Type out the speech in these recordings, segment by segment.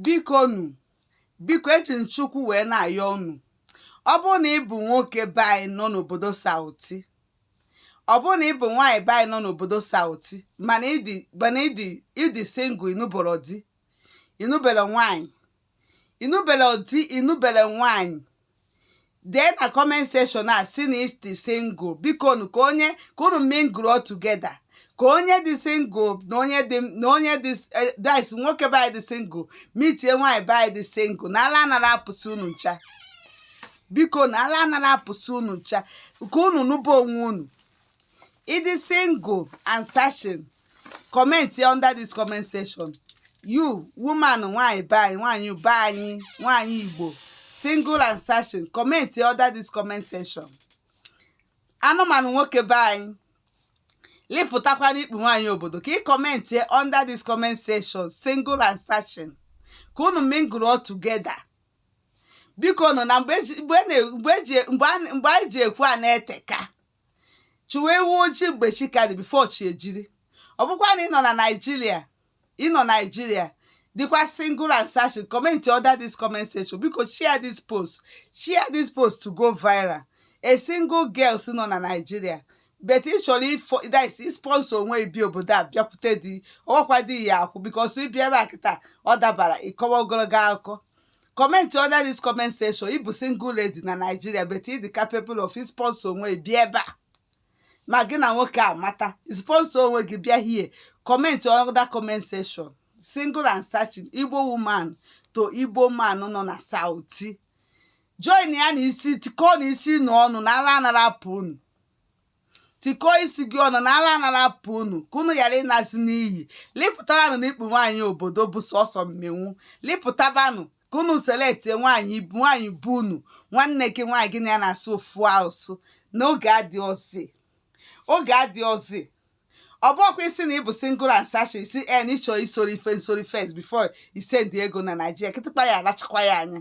bikonu biko eji m Chukwu wee na-ayọ unu ọ bụrụ na ị bụ nwoke be anyị nọ n'obodo sauti ọ bụrụ na ị bụ nwaanyị be anyị nọ n'obodo sauti mana ị dị mana ị dị ị dị single ị nụbọrọ di ị nụbere nwaanyị ị nụbere di ị nụbere nwaanyị dee na comment section a sị na ị dị single bikonụ ka onye ka unu mingle together ka onye dị single na onye dị na onye dị eh, dice nwoke be anyị dị single mitie nwaanyị be anyị dị single na ala anara apụsị unu ncha biko na ala anara apụsị unu ncha ka unu nụba onwe unu ị dị single and searching comment under this comment section you woman nwanyị be anyị nwanyị be anyị nwanyị igbo single and searching comment under this comment section anụmanụ nwoke be anyị lipụtakwa na ikpu nwaanyị obodo ka ị comment under this comment section single and searching ka unu mingle all together bikonụ na mgbe eji- mgbe na- mgbe eji- mgbe a- mgbe anyị ji ekwu a na-eteka chụwa ewu ojii mgbe chi ka dị before chi ejiri ọ bụkwa na ị nọ na Nigeria ị nọ Nigeria dịkwa single and searching comment under this comment section biko share this post share this post to go viral a single girls nọ na Nigeria but ị chọrọ ifo dis isponsor onwe ị bịa obodo a bịakwute di ọwakwa di ya akwụ because ị bịa ebe a kịta ọ dabara ị kọwa ogologo akụkọ comment under this comment section ị bụ single lady na Nigeria but ị dị capable of sponsor onwe gị bịa ebe a ma gị na nwoke amata sponsor onwe gị bịa here comment under comment section single and searching Igbo woman to Igbo man nọ na Sauti join ya na isi tikọ na isi na ọnụ na ala anara apụ unu tikọọ isi gị ọnụ na ala anara apụ unu ka unu ghara ịnazi n'iyi lipụtabanụ na ikpu nwaanyị obodo bụ sọsọ mmenwu lipụtabanụ ka unu selectie nwaanyị nwaanyị bụ unu nwanne gị nwaanyị gị na ya na-asụ ofu asụ n'oge adịọzi oge adịọzi ọ bụkwa ị sị na ị bụ single and searching ị sị na ị chọ isoro ife nsori first before isend ego na Nigeria kịtịkpa ya alachakwa ya anya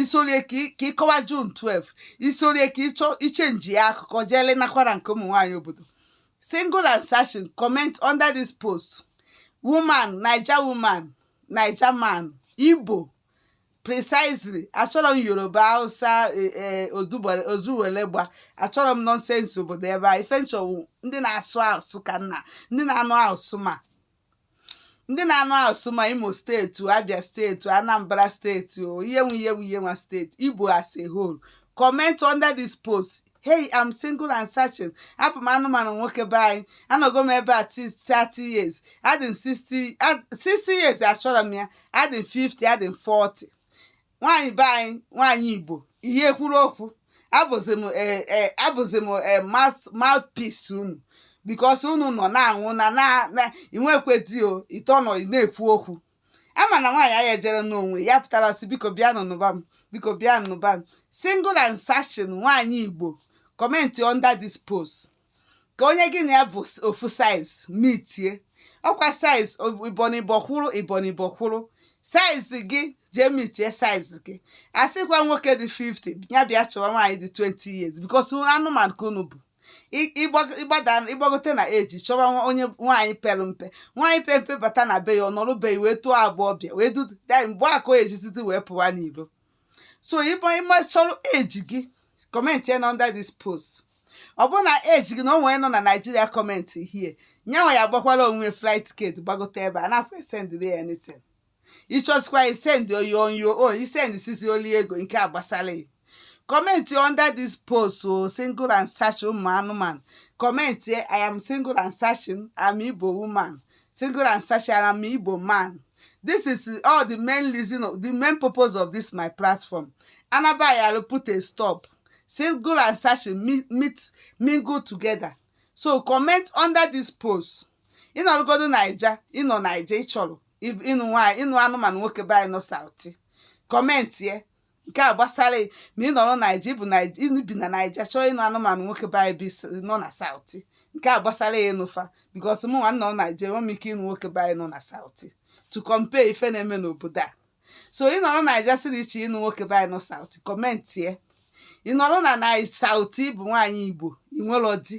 isorie ka ị kọwa June 12 isorie ka ị chọ ichenji ya akụkọ jeele nakwara nke ụmụ nwaanyị obodo single and searching comment under this post woman naija woman naija man igbo precisely achọrọ m yoruba hausa e, e, ozuwelegba achọrọ m nonsense obodo ebe a ife m chọ wụ ndị na-asụ asụ ka nna ndị na-anụ asụ ma ndị na-anụ asụsụ ma imo steeti abia steeti anambra steeti o ihe nwe ihe nwe ihe nwa steeti igbo as a whole comment under this post hey i'm single and searching abụ m anụmanụ nwoke be anyị anọgo m ebe a ti- 30 years adị m 60 ad- 60 years achọrọ m ya adị m 50 adị m 40 nwaanyị be anyị nwaanyị igbo ihe kwuru okwu abụzi m eh, eh, abụzi m eh, mouth- mouthpiece unu because unu nọ na-anwụ na na na inwekwe di o ite ọnọ ị na-ekwu okwu ama na nwaanyị anyị ejere n'onwe ya pụtara sị biko bịa nụnụba m biko bịa nụnụba m single and searching nwaanyị igbo comment under this post ka onye gị na ya bụ ofu size mitie ọkwa size ibonibo kwụrụ ibonibo kwụrụ size gị jee mitie size gị asịkwa nwoke dị 50 ya bịa chọwa nwaanyị dị 20 years because anụmanụ ka unu bụ ị gbagote na age chọwa onye nwaanyị pere mpe nwaanyị pere mpe bata na be ya ọ nọrọ be ya wee tụọ abụọ bịa wee duda mgbe a ka o jizizi wee pụwa n'ilo so ị bụ ị ma ị chọrọ age gị comment ya na under this post ọ bụrụ na age gị na onwe nọ na naijiria comment here nyanwa ya gbakwara onwe flight ticket gbagote ebe a na-afọ esendịrị ya anything ị chọzikwa isendị on your own o i sendị sisi o lie ego nke a gbasara ya comment under this post o single and searching ụmụ anụmanụ comment i am single and searching i'm igbo woman single and searching i am igbo man this is all the main reason of the main purpose of this my platform and nobody will put a stop single and searching meet, meet mingle together so comment under this post ị nọrọgodu naija ị nọ naija ị chọrọ ịnụ nwaanyị ịnụ anụmanụ nwoke be anyị nọ south comment here nke a gbasara ma ị nọrọ naija ị bụ i bi na naija chọọ ịnụ anụmanụ nwoke be anyị nọ na south nke a gbasara ya ịnụ fa because mụ nwa nọ naija enwe m ike ịnụ nwoke be anyị nọ na south to compare ife na-eme n'obodo a so ị nọrọ naija siri iche ịnụ nwoke be anyị nọ south kọmentie ị nọrọ na na south bụ nwaanyị igbo i nwerọ di